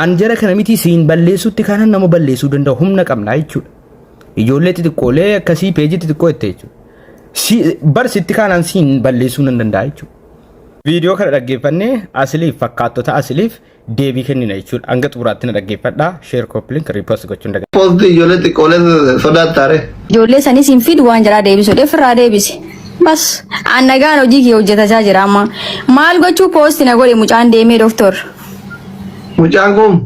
An jara kana miti siin balleessutti kanan nama balleessuu danda'u humna qabna jechuudha. Ijoollee xixiqqoolee akkasii peejii xixiqqoo itti jechuudha. Si, bar sitti kanan siin balleessuu nan danda'a jechuudha. Viidiyoo kana dhaggeeffannee asiliif fakkaattota asiliif deebii kennina jechuudha. Hanga xumuraatti na dhaggeeffadhaa. Sheer kooppiliin riipost gochuun daga. Post ijoollee xiqqoolee sodaattaare. Ijoollee sanis hin fidu waan jaraa deebisu dheef irraa deebisi. Bas an nagaan hojii kee hojjetachaa jira amma. Maal gochuu poosti na godhe mucaan deemee doktor. Mucaan kun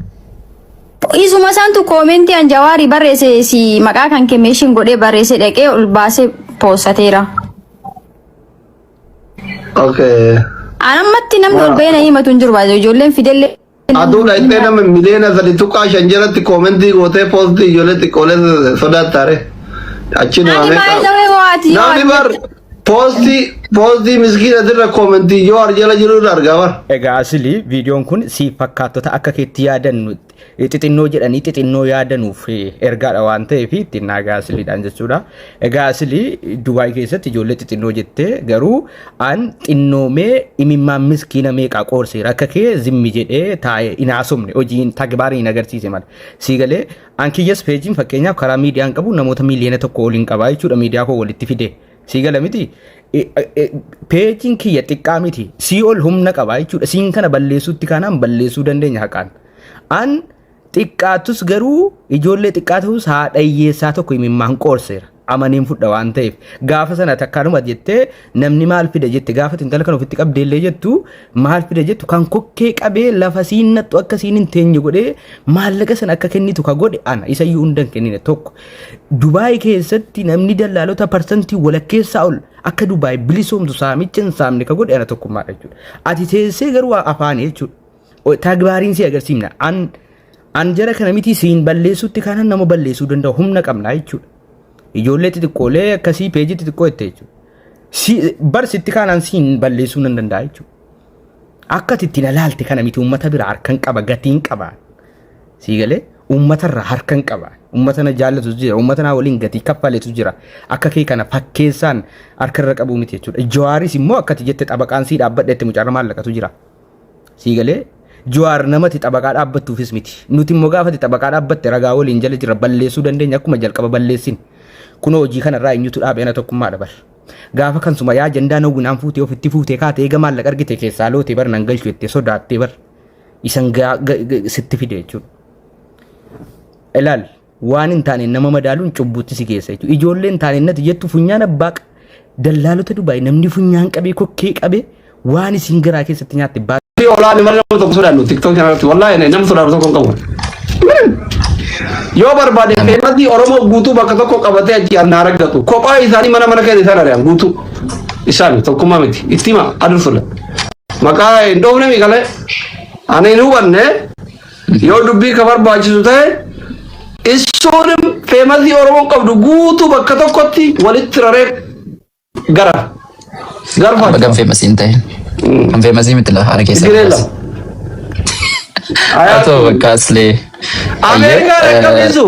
Isuma isaantu koomentii an jawaarii barreesse si maqaa kan kemeeshin godhee barreesse dhaqee ol baasee poosateera. okay. An ammatti namni ol bahee na himatu hin jiru baay'ee ijoolleen fidellee. Aduu dhaqxee nama miliyoona sadi tuqaa shan jalatti koomentii gootee poostii ijoollee xiqqoolee sodaattaare. Achi Ani namamee baay'ee dawee waati. Namni bar Poostii poostii miskiina dirra koomentii yoo arjala jiru irra argaa bar. Egaa asili viidiyoon kun si fakkaattota akka keetti yaadannu xixinnoo jedhanii xixinnoo yaadanuuf ergaadha waan ta'eef ittiin naagaa asiliidhaan jechuudha. Egaa asili Dubaay keessatti ijoollee xixinnoo jettee garuu an xinnoomee imimmaan miskiina meeqaa qoorseera akka kee zimmi jedhee taa'ee hin haasofne hojiin tagbaariin agarsiise mala. Sii galee An kiyyas peejiin fakkeenyaaf karaa miidiyaan qabu namoota miiliyoona tokko oliin qabaa jechuudha miidiyaa koo walitti fide. Sii gala miti. E- e- e- Peejiin kiyya xiqqaa miti. Sii ol humna qabaa jechuudha. Siin kana balleessuutti kaanaan balleessuu dandeenya haqaan. An xiqqaattus garuu ijoollee xiqqaa ta'us haadha hiyyeessaa tokko imimmaan qoorseera. amaneen fudha waan ta'eef gaafa sana takkaanuma jettee namni maal fida jette gaafa intala kan ofitti qabdee illee jettu maal fida jettu kan kokkee qabee lafa siin nattu akka siin hin teenye godhee maallaqa sana akka kennitu ka godhe ana isa iyyuu hundan kennine tokko Dubaay keessatti namni dallaalota parsantii walakkeessaa ol akka Dubaay bilisoomtu saamicha hin saamne ka godhe ana tokkummaadha jechuudha ati teessee garuu afaan jechuudha Tagbaariin si agarsiifna. An an jara kana miti siin balleessutti kanan nama balleessuu danda'u humna qabna jechuudha. Ijoollee xixiqqoolee akkasii peejii xixiqqoo itti jechuudha. Si barsitti kanan siin balleessuu nan danda'a jechuudha. Akka itti na laalte kana miti uummata bira harkan qaba gatiin qaba. Sii galee uummata irraa harkan qaba. Uummata na jaallatu jira. Uummata naa waliin gatii kaffaletu jira. Akka kee kana fakkeessaan harka irra qabuu miti jechuudha. Jawaaris immoo akkati jette xabaqaan sii dhaabbadhe itti mucaarra maallaqatu jira. Sii galee Jawaar namati xabaqaa dhaabbattuufis miti. Nuti immoo gaafati xabaqaa dhaabbatte ragaa waliin jala jirra balleessuu dandeenya akkuma jalqaba balleessin. Kunoo hojii kanarraa eenyutu dhaabe ana tokkummaadha bar. Gaafa kan suma yaa jandaa nawwinaan fuutee ofitti fuutee kaate eega maallaqa argite keessaa loote bar nan galchu jettee sodaattee bar. Isan sitti fide jechuudha. Ilaali. Waan hin taaneen nama madaaluun cubbuutti si geessa jechuudha. Ijoollee hin taaneen nati jettu funyaan abbaa qa- dallaalota Dubaay namni funyaan qabee kokkee qabee waan isiin garaa keessatti nyaatte baa Fi olaanni malee nama tokko sodaannu tiktok kana irratti wallahi ani nama sodaannu tokko hin qabu. Yoo barbaade qeemati Oromoo guutuu bakka tokko qabatee achi anna argatu kophaa isaanii mana mana keessa isaan ari'an guutuu isaan tokkummaa miti itti hima adursuudha. Maqaa hin dhoofne miiqalee ani hin hubanne Yoo dubbii ka barbaachisu ta'e issuunim feemasii Oromoon qabdu guutuu bakka tokkotti walitti raree gara garfa Baga hin feemasii hin ta'in. Hin feemasii miti lafa haala keessa. Tigiree lama. Haa ta'u bakka aslee. Ameerikaa Ayyee, eh, dhaqqabsiisu.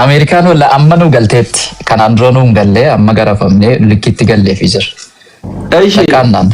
Ameerikaan walla amma nu galteetti. Kanaan dura nu hin galle amma garafamnee likkiitti galleefi jira. Eeshi. Takkaannaan.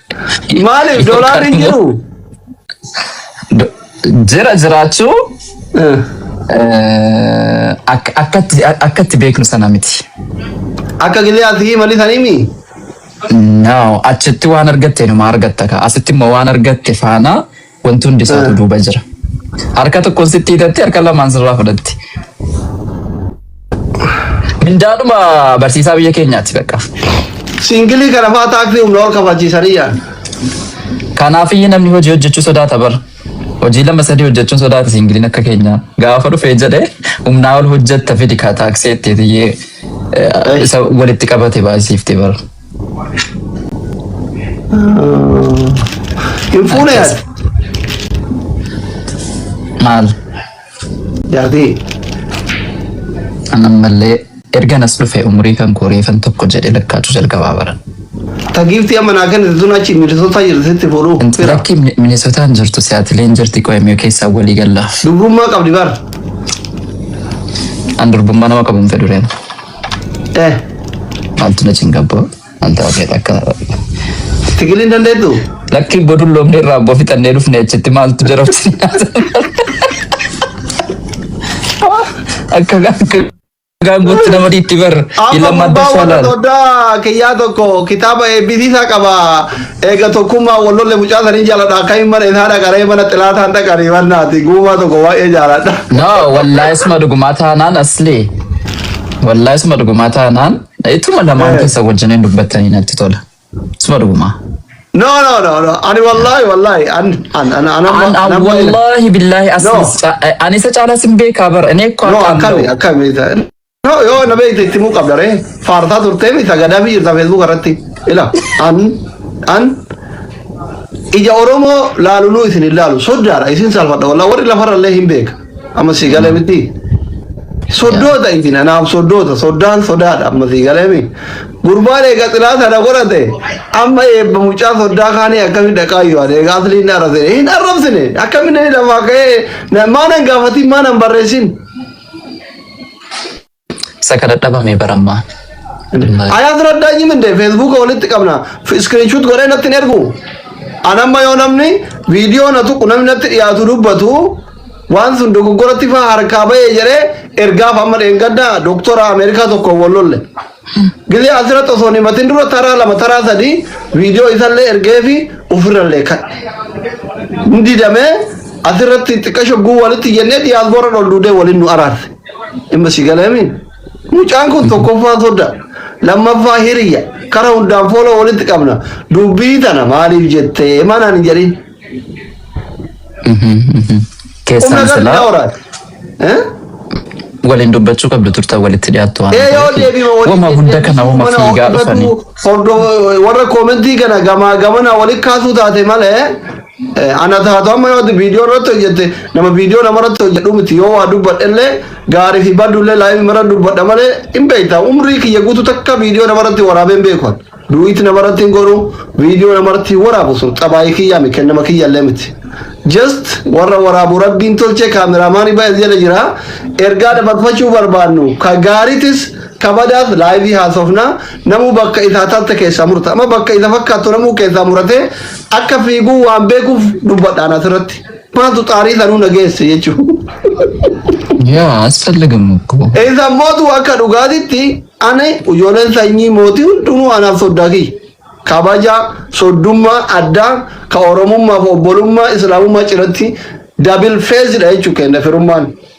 Maaliif doolaarri hin jiru? Do- Jira jiraachuu Eh, eh, ak- akkatti akkatti beeknu sana miti. Akka giliyaatti himali sanimi. No, achitti waan argatte numa argatta ka. Asitti immoo waan argatte faana Wanti hundi isaatu duuba jira. Harka tokkoon sitti hidhatti harka lamaan sirraa fudhatti. Mindaadhuma barsiisaa biyya keenyaati bakka. Siingilii kana fa'aa taaksii humna ol kafachiisanii yaadna. Kanaaf iyyuu namni hojii hojjechuu sodaata bara. Hojii lama sadii hojjechuun sodaata siingiliin akka keenyaa. Gaafa dhufee jedhee humnaa ol hojjetta fidi kaa taaksii itti iyyee isa walitti qabate baay'isiifte bara. Hin fuune yaad. Maal? Jaartii. Ammallee ergan as dhufe umurii kan koo reefan tokko jedhe lakkaachuu jalqabaa bara. Ta giiftii amma naa kennite tun achi milisootaa jirti sitti fuudhuu. Fira. Lakki Minisootaan jirtu siyaatileen jirti qo'emee keessaa walii galla. Dubrummaa qabdi bar. An durbummaa nama qabu hin fedhu reena. Eh. Maaltu na cingabbo? Maaltu hafee akka Tigiliin dandeettu? lakki godhu loomne irraa abboo fixannee dhufne achitti maaltu jarabsi akka akka gaangootti nama dhiitti bar Amma ilama adda gurbaa warra shaalaan doddaa kiyyaa tokko kitaaba eebbisiisaa qaba. Eega tokkummaa wallolle mucaa sanii jaaladha. Akka hin mana isaa dhaqaree mana xilaataan dhaqanii wannaati. Guumaa tokko waa'ee jaaladha. no wallahi isma dhugumaa taanaan asli Wallahi suma dhugumaa taanaan ituma lamaan Eh. keessa wajjiniin dubbattanii natti tola. Suma dhugumaa. No, no, no, no. Ani wallahi, wallahi. An, an, an, an, amma- An an amma- wallahi billahi No. aslis ca- ani isa caalaa sin beekaa bara inni eekko No, akkaan akkami, ta'u. akkami. No, yoo na beekte itti muu qabda ree. Faartaa turtee mita gadaa biyyi jirta Facebook irratti. Ila, an, an, ija Oromoo laaluluu isin hin laalu. Soddaadha, isin salphadha. Wallah warri lafarra illee hin beeka. Amma si galee miti. Soddoota itti nanaaf soddoota soddaan sodaadha amma si galee miti. Gurbaan eega xilaa sana godhate amma eebba mucaa soddaa kaanii akkami dhaqaa yoo ade egaa asli hin arrabsine hin arrabsine akkami inni lafaa ka'ee maanan gaafatiin maanan barreessin. Isa kana dhabame bara ammaa. Anaa dura daanyim indee feesbuuka walitti qabna iskiriinshuut godhee natti hin ergu. Anamma yoo namni viidiyoo na tuqu namni natti dhiyaatu dubbatu waan sun dogoggoratti faa harkaa bahee jedhee ergaaf amma dheengadda doktora Ameerikaa tokko wal lolle. Gizee asirratti osoo hin matin dura taraa lama taraa sadii viidiyoo isallee ergee fi ofirrallee kadhe. Didamee asirratti xiqqasho guu walitti jennee diyaasboora ol duudee waliin nu araarse. Dhimma si galeemi. Mucaan kun tokkoffaa soda. Lammaffaa hiriya. Kara hundaan foola walitti qabna. Dubbii tana maaliif jettee manaan hin jedhin. Humna Keessan gadi silaa daawraati. Eh? waliin dubbachuu qabdu turtan walitti dhiyaattu waan Ee yoo ta'eef. deebiima waliin Wama hunda kana wama mana fiigaa dhufanii. hordofatu, hordo- warra koomentii kana gamaa gamana walitti kaasuu taate malee Ana taatu amma yoo ati viidiyoo irratti hojjette nama viidiyoo nama irratti hojjedhu miti yoo waa dubbadhe illee gaarii fi baddu illee laayivii irra dubbadha malee hin beekta umrii kiyya guutuu takka viidiyoo nama irratti waraabee hin beeku duwiitti nama irratti hin godhu viidiyoo nama irratti hin waraabu sun xabaayii kiyyaa mi kennama kiyya illee miti. Just warra waraabu rabbiin tolchee kaameraamaanii ba'e jala jira ergaa dabarfachuu barbaannu ka gaariitis kabadaas laayivii haasofna Namuu bakka isa atalte keessaa murta. Amma bakka isa fakkaattu namuu keessaa muratee akka fiiguu waan beekuuf dubbadhaan asirratti. Maaltu xaarii sanuu na geesse jechuudha. Yaa asfallagam እኮ Isa mootu akka dhugaatitti ani ijoolleen sanyii mootii hundinuu anaaf soddaa kiyya. Kabaja, soddummaa, addaa, ka Oromummaa fi obbolummaa, Islaamummaa ciratti dabil feezidha jechuudha kenna firummaan.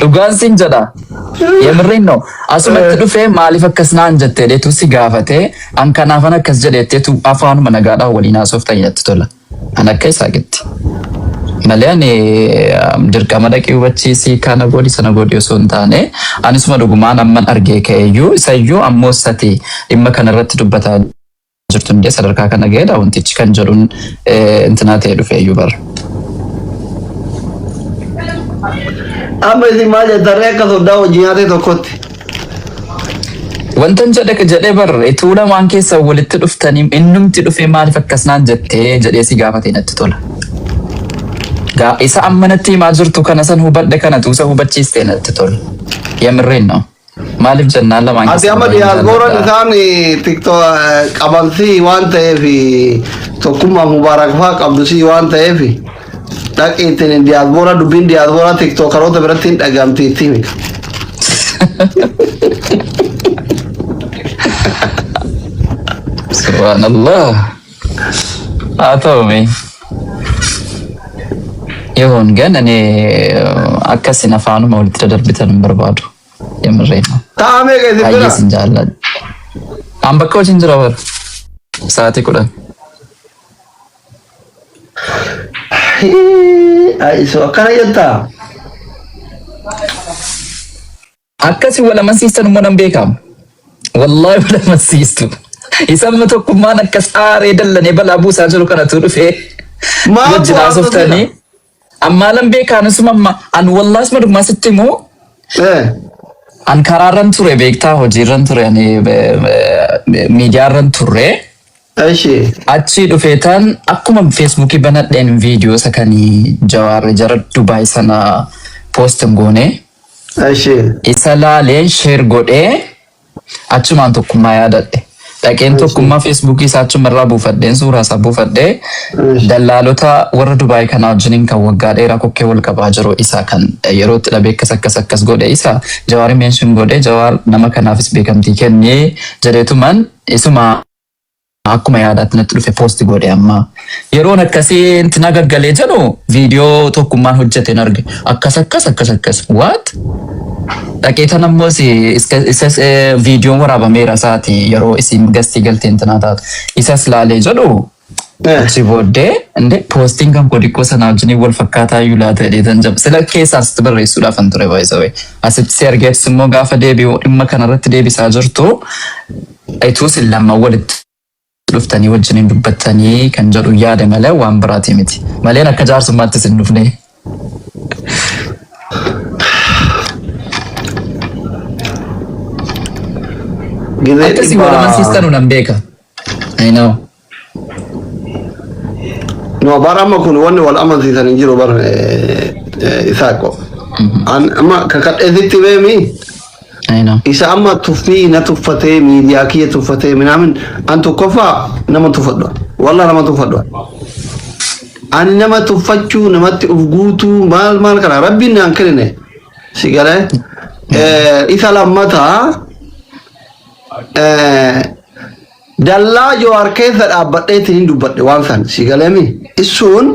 Dhugaan sin jedha. Yemirriin no. Asumatti dhufee maaliif akkas naan jettee deetu si gaafatee an kanaafan akkas jedheetteetu afaanuma nagaadhaan waliin haasofta natti tola. An akka isaa gitti. Malee ani um, dirqama dhaqii hubachiisii kana godhi sana godhi osoo hin taane anisuma dhugumaan amman argee ka'eeyyuu isayyuu ammoo sati dhimma kanarratti dubbataa jirtu hundee sadarkaa kana ga'eedha wantichi kan jedhuun intinaa ta'e dhufe iyyuu bara. Amma isin maal jettarree akka soddaa hojii nyaatee tokkotti. Wantan jedhe jedhee bar ituu lamaan keessa walitti dhuftanii innumti dhufee maaliif akkasnaan jettee jedhee si gaafatee natti tola. Gaa isa amma natti himaa jirtu kana san hubadhe kana tuusa hubachiistee natti tola. Yamirreen na'u. Maaliif jennaan lamaan Ati amma diyaaspooraan isaan tiktok qaban si waan ta'eef tokkummaa mubaarak fa'aa qabdu si waan ta'eef dhaqi ittiin diyaaspoora dubbiin diyaaspoora tiktookaroota biratti hin dhagamti itti himi. Subhaanallah. haa ta'u mee yehoon gan ani akkasin afaanuma walitti dadarbitan hin barbaadu yemirree Ta'a meeqa isin baay'ee bira? sin jaalladha an bakka hojiin jira bara sa'aatii kudhan Hii, Ayisu akkana jettaa? Akkasi wal amansiistan immoo nan beeka. Wallaahi wal amansiistu. Isamma tokkummaan akka saaree dallanee balaa buusaa jiru kanatu dhufee Maaf wajjin waan haasoftanii. tolchina? Ammaa lan beekaan isuma amma an wallaas madummaa sitti immoo Eh. an karaarran ture beektaa hojiirran ture ani miidiyaarran ture. Eshi. Achii dhufee tan akkuma feesbuukii banadheen viidiyoo isa kan jawaarri jara Dubaay sana poostin goonee. Eshi. Isa laaleen sheer godhee achumaan tokkummaa yaadadhe. Dhaqeen tokkummaa feesbuukii isaa achuma irraa buufadheen suuraa isaa buufadhee dallaalota warra Dubaay kanaa wajjiniin kan waggaa dheeraa kokkee wal qabaa jiru isa kan yeroo itti dhabee akkas akkas akkas godhe isa jawaari meenshin godhe jawaar nama kanaafis beekamtii kennee jedheetuman isuma akkuma yaadaatti natti dhufe poosti godhe amma yeroon akkasii inti na gaggalee jedhu viidiyoo tokkummaan hojjete narge akkas akkas akkas akkas waat dhaqee tan ammoo si isas viidiyoon waraabameera isaati yeroo isin gastii galtee intinaa taatu isas laalee jedhu achi booddee inde poostiin kan koo diqqoo sanaa wajjiniin wal fakkaataa iyyuu laata jedhee tan jab sila keessaa asitti barreessuudhaaf an ture baay'isawee asitti si argeefis immoo gaafa deebi'u dhimma kanarratti deebisaa jirtu Ituu isin lamman walitti dhuftanii wajjin hin dubbattanii kan jedhu yaade malee waan biraatii miti. Maleen akka jaarsummaattis hin dhufne. Gizee Akka isin wal dhibbaa. amansiistanu nan beeka. I know. No, bar amma kun wanni wal amansiisan hin jiru bar isaaqo. An amma kakadheetitti beemi Ayna. isa amma tuffii na tuffatee miidiyaa kiyya tuffatee minaamin an tokkoffaa nama tuffadha. Wallah nama tuffadha. Ani nama tuffachuu namatti uf guutuu maal maal kana rabbiin naan kennine si galee Eh, isa lammataa eh, Dallaa Jowaar keessa dhaabbadheetiin hin dubbadhe waan san si galeemi. Issuun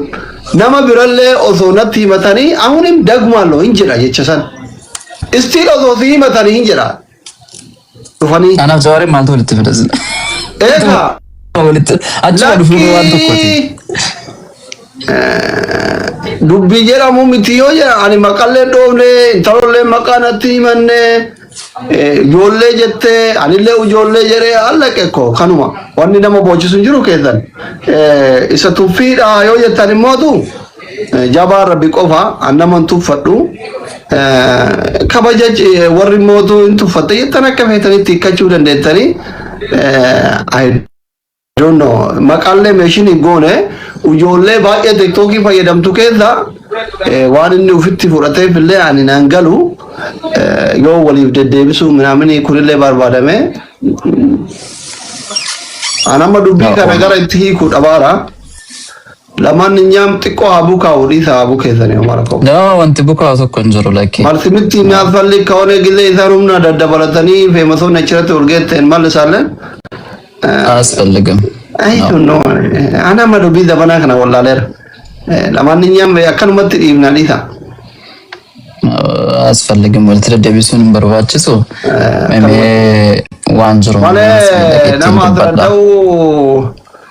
nama birallee osoo natti himatanii ahunim dagmaallo hin jedha jecha san. Istiil osoo si himatanii hin jedha. Dhufanii. Anaaf jawaaree maaltu walitti fida sila? Eegaa. Walitti achuma dhufuun waan tokkooti. Dubbii jedhamu miti yoo jedhan ani maqallee dhoofne intalollee maqaa natti himanne Ijoollee jettee anillee ijoollee jedhee allaqe ko kanuma wanni nama boochisu hin jiru keessan isa tuffiidha yoo jettan immootu jabaa rabbi qofa an nama hin tuffadhu kabaja warri immootu hin tuffatte jettan akka feetanitti hiikkachuu dandeettanii I don't know. Maqaallee meeshin hin goone ijoollee baay'ee tiktookii fayyadamtu keessa eh, waan inni ofitti fudhateef illee ani nan galu eh, yoo waliif deddeebisuu minaaminii kunillee barbaadame an amma dubbii kana gara itti hiikuu dhabaara. Lamaan nyaam xiqqoo haa bukaa'u dhiisa haa bukeessanii homaa rakkoo. Nama wanti bukaa'u tokko hin jiru lakkii. Marsimitti inni asfalli kawanee gizee isaan humna daddabalatanii feemasoonni achirratti urgeetteen mal isaalleen. Asfalligam. Ayi tunno ana ma dubbii zabanaa kana wallaaleera. Lamaan nyaam akkanumatti dhiifna dhiisa. Asfalligam walitti deddeebisuun hin barbaachisu. Mee waan jiru. Malee nama asirra ta'uu.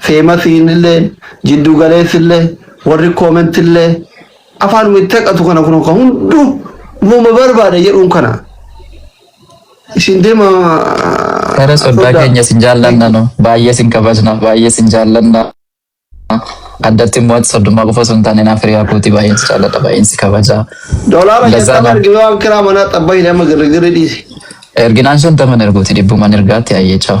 Feemasiin illee, jidduu galeessi illee, warri koomenti illee afaanuma itti haqatu kana kun kan hunduu uumama barbaada jedhuun kana. Isin deema. Gara soddaa keenya isin jaallanna nu baay'ee isin kabajna baay'ee isin jaallanna. Addatti immoo ati soddummaa qofa osoo hin taane naaf hiriyaa kootii baay'een si jaalladha baay'een si kabaja. Dolaara Lazaa shantama naaf- argime waan kiraa manaa xabbaa hin amma girrigirri dhiisi. Erginaan shantaman erguuti dhibbuman ergaatti ayyee chaawu.